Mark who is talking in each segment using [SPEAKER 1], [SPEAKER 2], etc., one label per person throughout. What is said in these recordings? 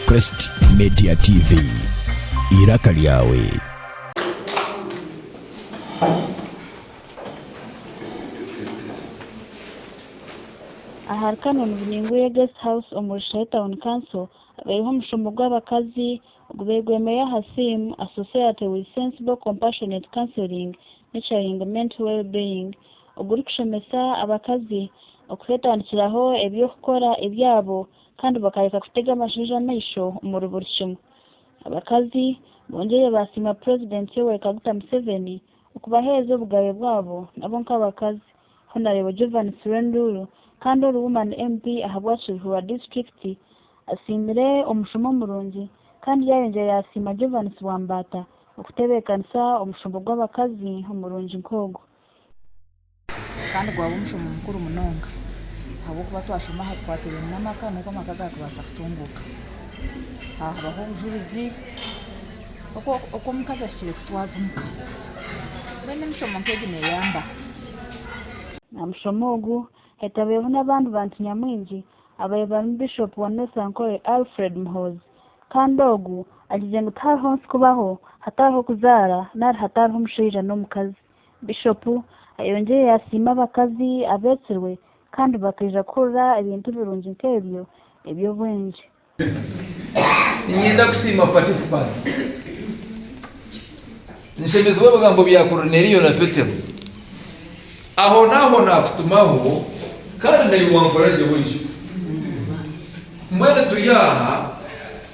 [SPEAKER 1] Crest Media TV, iraka lyawe. Ahari Canon Bunyinguye Guest House omu Rushahi Town Council habaireho omushomo gw'abakazi ogubairwemeyo aha theme, A Society with Sensible Compassionate Counselling, Nurturing Mental Wellbeing, ogurikushomesa abakazi okuteetandikiraho eby'okukora ebyabo kandi bakareka kutega abashaija amaisho omuri buri kimwe. Abakazi bongyeire baasiima Purezidenti Yoweri Kaguta Museveni okubaheereza obugabe bwabo nabo nk'abakazi, Honarebo Jovan Sirenduru kandi ori Woman MP ahabwa Kiruhura Disiturikiti asiimire omushomo murungi kandi yaayongyera yaasiima Jovanis Wambaata, Okutebeekanisa omushombo gw'abakazi omurungi nk'ogwo. Kandi gwaba omushombo mukuru munonga, ahabw'okuba twashoma aha bikwatiraine n'amaka, n'oku amaka garikubaasa kutunguuka. Aha habaho obujurizi oku omukazi ahikire kutwaza omuka. Mbwenu emishomo nk'egi neeyamba. Aha mushomo ogu, hetabireho n'abandi bantu nyamwingi, ababaire barimu Bishop wa North Ankole, Alfred Muhoozi. Kandi ogu agizire ngu tihariho nsi kubaho hatariho kuzaara nari hatariho omushaija n'omukazi. Bishopu ayongyire yasiima abakazi abetsirwe kandi bakaija kuhurira ebintu birungi nk'ebyo eby'obwengye. Niinyenda kusiima participants. Nshemezibwe ebigambo bya Korineriyo na Petero, Ahonaaho naakutumaho, kandi naiwe wankora gye oije. Mbwenu turi aha,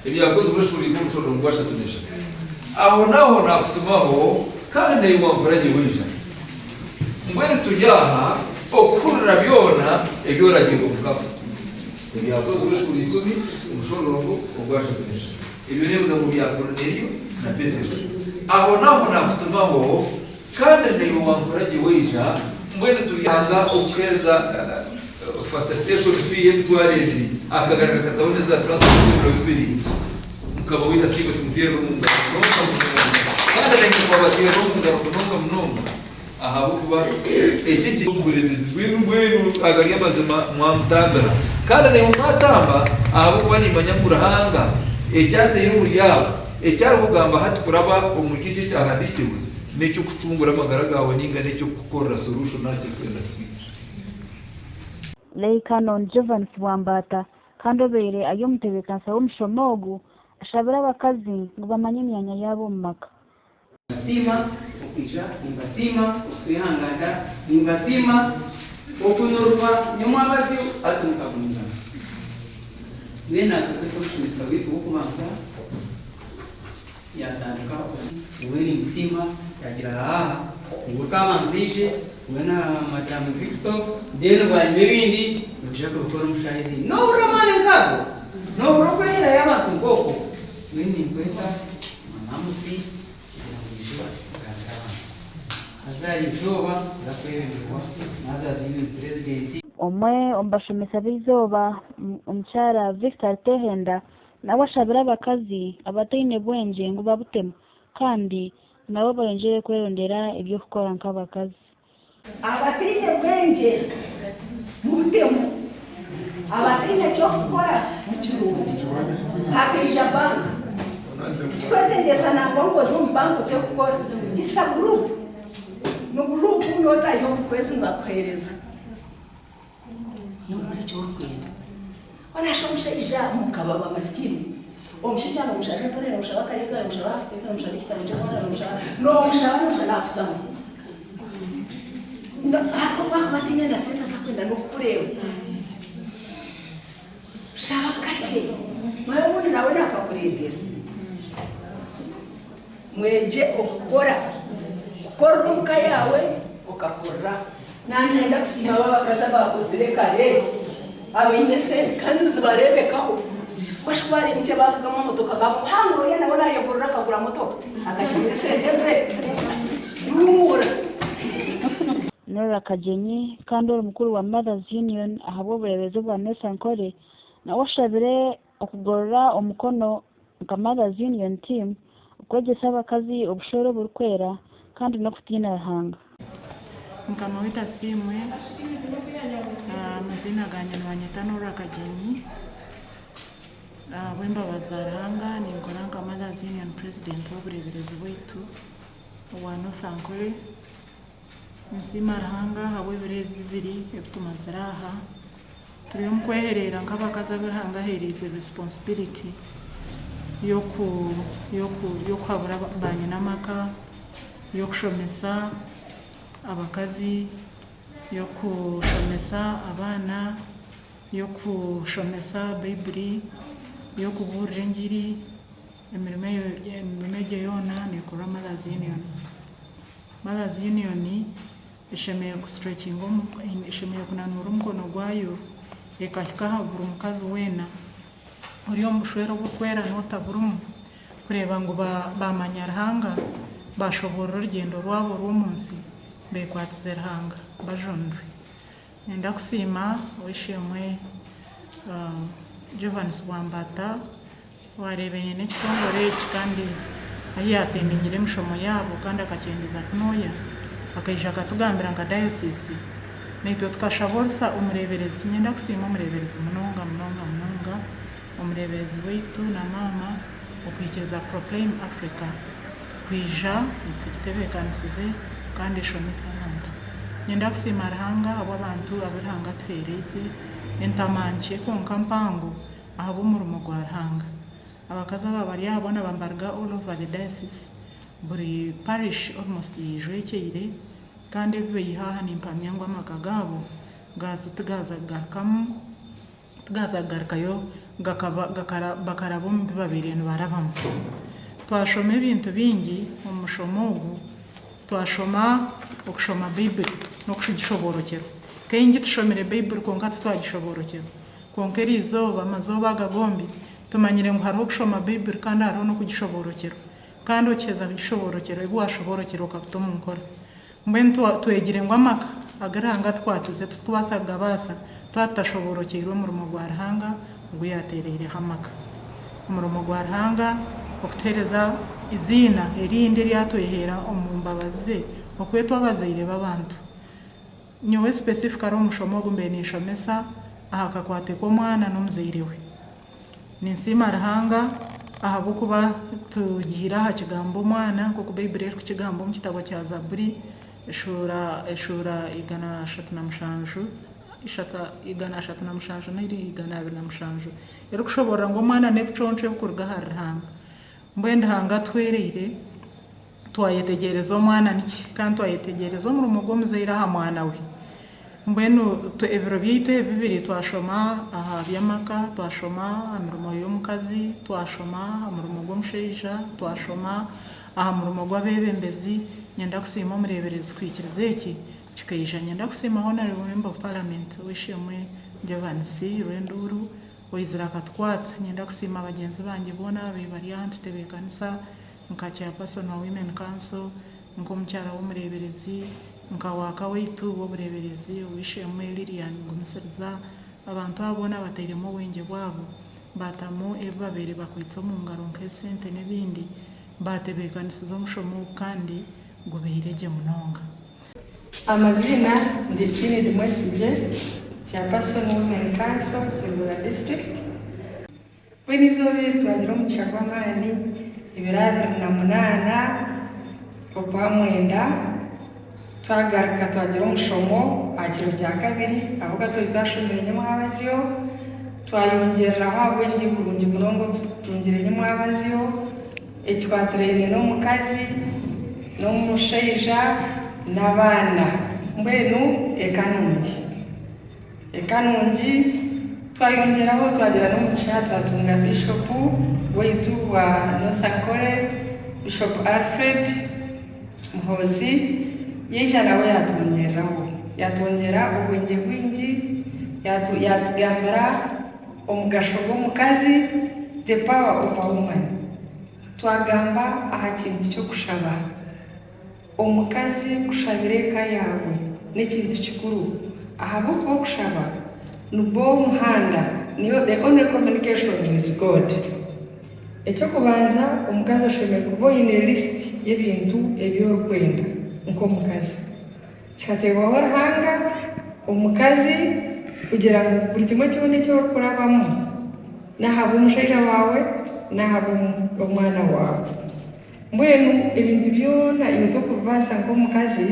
[SPEAKER 1] Ebyakozirwe eshuuri ikumi cwenda omurongo gwashatu n'eshatu, Ahonaaho naakutumaho, kandi naiwe wankora gye oija. Mbwenu turi aha okuhurira byona ebi oragirwe Mukama. Ebyakozirwe eshuuri ikumi omushororongo ogwashatu n'eshatu. Ebyo n'ebigambo bya Korinelio na Petero. Ahonaho naatutumaho, kandi naiwe wankora gye waija, mbwenu turyanga okuheereza facilitation fee y'emitwaro ebiri, akagari kakataho n'eza transport ebiro bibiri. Mukama waitu asiimwe, tumuteerere omu ngaro munonga munonga, kandi araingye twabateerera omu ngaro munonga munonga. ahabw'okuba eki kiri omu buremeezi bwenu mbwenu agari amazima mwamutambira, kandi naimwe mwatamba, ahabw'okuba nimmanya ngu Ruhanga eki ataire omuri abo, eki arikugamba hati kuraba omuri eki ekyahandiikirwe, n'eky'okucungura amagara gaawe nainga n'eky'okukukorera soruusho nari ekirikwenda kukwita. Lei Canon Jovanis Bwambata kandi obaire ari omutebeekanisa w'omushomo ogu ashabire abakazi ngu bamanye emyanya yaabo omu maka. Nimbasiima okwija, nimbasiima okutwehangaata, nimbasiima okunurwa nyo mwabazyo hati mukagumiza. Mbwenu naaza kweeta omushomesa waitu w'okubanza, yaatandika oku. Mbwenu nimbasiima, yaagira haa, niiwe okaabanza oije, niiwe na Madam Victor, mbwenu bwanyima ebindi nimwija kubikora omu shaaha ezi ibiri. Noohurira amaani nk'ago? Noohurira okweherayo abantu nk'okwo? Nyowe ninkweta Mamamusi kugira ngu oije okugambira abantu. Haza hari eizooba tuza kweyonerwa naaza aha Zion President. Omwe omu bashomesa b'eizooba, Omukyara Victor Tehenda, nawe ashabire abakazi abataine bwengye ngu babutemu kandi nabo bayongyere kwerondera eby'okukora nk'abakazi. Abataine bwengye mubutemu, abataine kyokukora mukirunde. Hakaija bank, tikikwetegyesa nangwa ngu oze omu bank oze kukora, it's a group, ni group not ahi omu kwezi nibakuhereza. Noogira eki orikwenda. Oraasha omushaija mukaba wa masikini. Omushaija noomushaba empare, noomushaba akareega, noomushaba half pant, noomushaba ekitabo ky'omwana, noomushaba, noomushaba, noomushaba naakutamu. Hati obu akuba ataine na sente atakwenda n'okukureeba. Shaba kakye mara obundi nawe nakakureetera. Mwegye okukora. Kukorera omu ka yaawe okakorera. Nangenda kusiima abo abakazi abaakozire kare abaine sente kandi nizibareebekaho. Bashusha waareeba enkyebe avugamu emotoka baamukuhangura oriya nawe naayekorera akagura motoka akarya omuri sente ze. Duumura. Norah Kagyenyi Kandi ori mukuru wa Mothers Union ahabw'obureebezi obwa Nessa Nkore nawe ashabire okugorora omukono nka Mothers Union Team okwegyesa abakazi obushwere oburikwera kandi n'okutiina Ruhanga. Mukama waitu asiimwe, amaziina gangye nibanyeta Norah Kagyenyi, ahabw'embabazi za Ruhanga ninkora nka Mothers Union President w'obureeberezi bwaitu obwa North Ankole. Ninsiima Ruhanga ahabw'ebiro ebi bibiri ebitumazire aha. Turi omu kwehereera nk'abakazi abu Ruhanga aheereize responsibility y'okuhabura baanyina amaka, y'okushomesa abakazi, y'okushomesa abaana, y'okushomesa Baiburi, y'okubuurira engiri, Emirimo egyo yoona neekorwa Mothers Union. Mothers Union eshemereire kunanuura omukono gwayo ekahika aha buri mukazi weena ori omu bushwere oburikwera n'otaburimu kureeba ngu baamanya Ruhanga, baashoboorora orugyendo rwabo orw'omu nsi beekwatize Ruhanga bajunirwe. Niinyenda kusiima Ow'eishe-emwe Jovanisi Bwambata. Waareeba aine ekitongore eki kandi ahi yaateemiingire emishomo yaabo kandi akakyendeeza kunooya, akaija akatugambira nka dayosiisi, naitwe tukashaba orusa omureeberezi. Niinyenda kusiima omureeberezi munonga munonga munonga, omureeberezi waitu na maama okuhikiiriza Proclaim Africa kwija etutebeekanisize kandi eshomese abantu. Niinyenda kusiima Ruhanga ahabw'abantu abu Ruhanga atuheereize, entama nkye kwonka mpango, Ahabw'omurimo gwa Ruhanga, abakazi aba bari aha boona bambarga all over the diocese, buri parish almost yeijwekyeire, kandi ebi beiha aha nimpamya ngu amaka gaabo gaaza tigaaza kugarukamu, tigaaza kugarukayo gakaba gakara bakaraba omu bi babaire nibarabamu. Twashoma ebintu bingi omu mushomo ogu, twashoma okushoma Baibuli n'okugishoboorokyerwa. Kaingi tushomire Baibuli kwonka titwagishoboorokyerwa. Kwonka eri izooba, amazooba aga gombi, tumanyire ngu hariho okushoma Baibuli kandi hariho n'okugishoboorokyerwa. Kandi okiheza kugishoboorokyerwa, ebi waashoboorokyerwa okabita omu nkora. Mbwenu twegire ngu amaka agu Ruhanga atukwatize titukubaasa kugabaasa twaba tutashoboorokyeirwe omurimo gwa Ruhanga ogu yaateereireho amaka. Omurimo gwa Ruhanga okutuheereza eiziina erindi eri atweheera omu mbabazi ze, okwetwa abazaire b'abantu. Nyowe specifically omushomo ogu mbaire ninshomesa aha kakwate k'omwana n'omuzaire we. Ninsiima Ruhanga ahabw'okuba tugiire aha kigambo omwana nk'oku Baiburi erikukigamba omu kitabo kya Zaburi eshuura eshuura igana ashatu na mushanju ishatu igana ashatu na mushanju n'eri igana abiri na mushanju erikushoboorora ngu omwana n'ebiconco ebikuruga ahari Ruhanga. Mbwenu Ruhanga atuhwereire. Twayetegyereza omwana niki? Kandi twayetegyereza omurimo gw'omuzaire aha mwana we. Mbwenu ebiro byaitu ebi bibiri twashoma aha by'amaka, twashoma aha mirimo y'omukazi, twashoma aha murimo gw'omushaija, twashoma aha murimo gw'abeebembezi. Nyenda kusiima omureeberezi kuhikiriza eki kikaija. Nyenda kusiima Honourable Member of Parliament ow'eishe-emwe Jovanisi Rwenduuru owaizire akatukwatsa. Nyenda kusiima bagyenzi bangye boona ababaire bari aha nitutebeekanisa nka Chairperson wa Women Council, nk'omukyara w'omureeberezi, nka Waaka waitu w'obureeberezi, Ow'eishe-emwe Lillian Gumisiriza, abantu abo boona batairemu obwengye bwabo, baatamu ebi babaire bakwaitse omu ngaro nk'esente n'ebindi, baatebeekanisiza omushomo ogu kandi gubaire gye munonga. Amaziina, Ndi Enid Mwesigye, Chairperson, Women Council, Kingura District. Mbwenu eizooba eri twagira omugisha gw'amaani, ebiro abiri na munaana ogwa mwenda twagaruka twagira omushomo aha kiro kya kabiri ahabw'okuba twari twashomire Nyamwabazyo, twayongyereraho ahabw'ebibi burungi munonga obu tutungire Nyamwabazyo ekikwatiraine n'omukazi, n'omushaija, n'abaana mbwenu eka nungi. Eka nungi twayongyeraho twagira n'omugisha twatunga Bishop waitu wa Nosakhkore Bishop Alfred Muhoozi yaija nawe yaatwongyereraho yaatwongyera obwengye bwingi yaatugambira omugasho gw'omukazi the power of a woman twagamba aha kintu ky'okushaba Omukazi kushabira eka yaabwe n'ekintu kikuru ahabw'okuba okushaba nigwo muhanda, niyo the only communication with God. Eky'okubanza omukazi oshemereire kuba oine list y'ebintu ebi orikwenda nk'omukazi. Kikateebwaho Ruhanga omukazi kugira ngu buri kimwe kyona eki orikurabamu n'ahabw'omushaija waawe n'ahabw'omwana waawe. Mbwenu ebintu byona iwe t'okubibaasa nk'omukazi,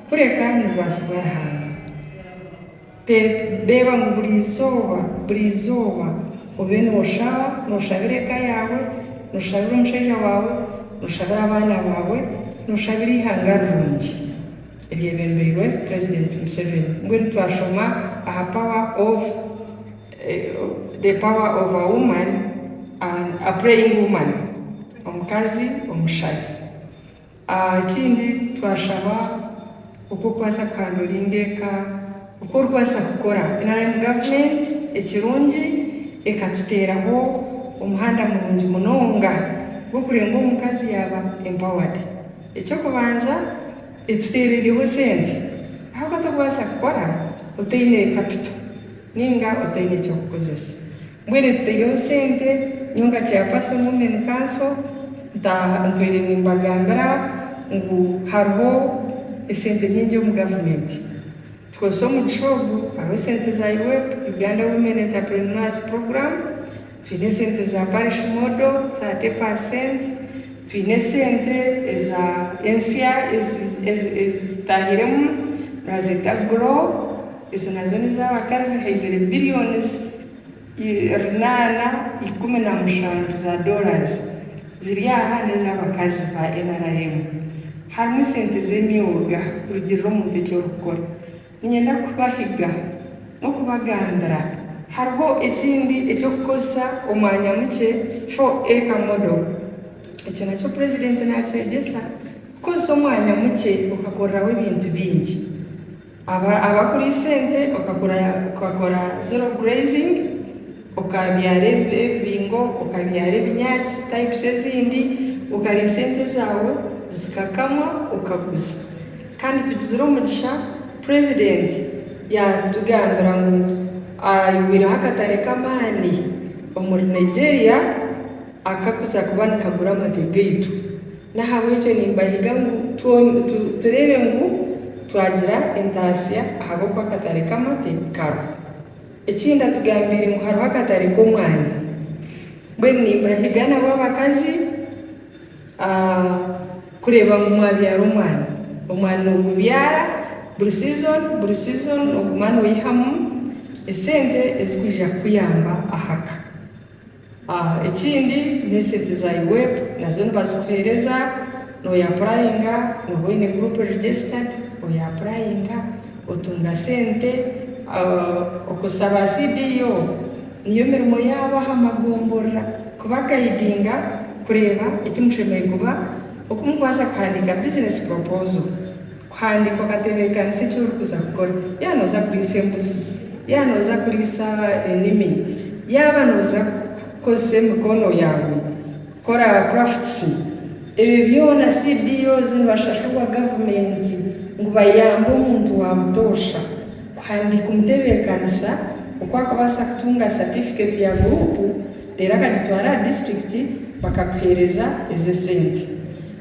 [SPEAKER 1] kureka nibibaasibwa aha Ruhanga. Reeba ngu buri izooba, buri izooba obe nooshaba, nooshabira eka yaawe, nooshabira omushaija waawe, nooshabira abaana baawe, nooshabira eihanga rirungi eryebembeirwe Purezidenti Museveni. Mbwenu twashoma aha power of. The power of a woman, a praying woman, omukazi omushabi. Ekindi twashaba oku orikubaasa kuhanduringa eka, oku orikubaasa kukora. Nrm government ekirungi ekatuteeraho omuhanda murungi munonga gw'okureeba ngu omukazi yaaba empowered. Eky'okubanza etuteereireho sente ahabw'okuba tokubaasa kukora otaine kapito. Ninga otaine ky'okukozesa. Mbwenu ezitaireho sente, nyowe nka chairperson women council ntaaha ntwire nimbagambira ngu hariho esente nyingi omu government. Tukozese omugisha ogu, hariho esente za UWEP, Uganda Women Entrepreneurs Program, Twine esente eza parish model 30 per cent, twine esente eza ensya ezitahiremu nibazeta grow ezo nazo nezabakazi haizire billions rinaana ikumi na mushanju za dollars ziri aha nezabakazi ba nrm. Harimu esente zemyoga kurugirira omuntu ekyorikukora Niinyenda kubahiga n'okubagambira hariho ekindi eky'okukozesa omwanya mukye, four acre model. Ekyo nakyo Purezidenti naakyegyesa, kukozesa omwanya mukye okakoreraho ebintu bingi. Abakuriisa ente okakora zero grazing. Okaabyara ebibingo, okabyara ebinyaatsi, types ezindi, okariisa ente zaawe zikakamwa okaguza. Kandi tugizire omugisha president yaatugambira ngu aihwireho akatare k'amaani omuri Nigeria akakuza kuba nikagura amate gaitu. N'ahabw'ekyo nimbahiga ngu tureebe ngu twagira entaasya ahabw'okuba akatare k'amate kariho. Ekindi atugambiire ngu hariho akatare k'omwani. Mbwenu nimbahiga nabo abakazi kureeba ngu mwabyara omwani. Omwani nogubyara buri season buri season noguma noyihamu esente ezikwija kukuyamba ahaka. Ekindi n'esente za UWEP nazo nibazikuheereza, noyapurayinga nooba oine guruupu registered, oyapurayinga otunga sente, okozesa ba CDO, niyo mirimo yaabo aha magomborora kubagayidinga kureeba eki mushemereire kuba, oku murikubaasa kuhandiika business proposal. Kuhandiika okateebeekanisa eki orikuza kukora. Yaaba nooza kuriisa embuzi, yaaba nooza kuriisa enimi, yaaba nooza kukozesa emikono yaawe kukora crafts, ebyo byona CBOs nibashashurwa gavumenti ngu bayambe omuntu wa butoosha kuhandiika omuteebeekanisa oku arikubaasa kutunga satifikeeti ya guruupu reero akagitwara aha disiturikiti bakakuheereza ezo esente.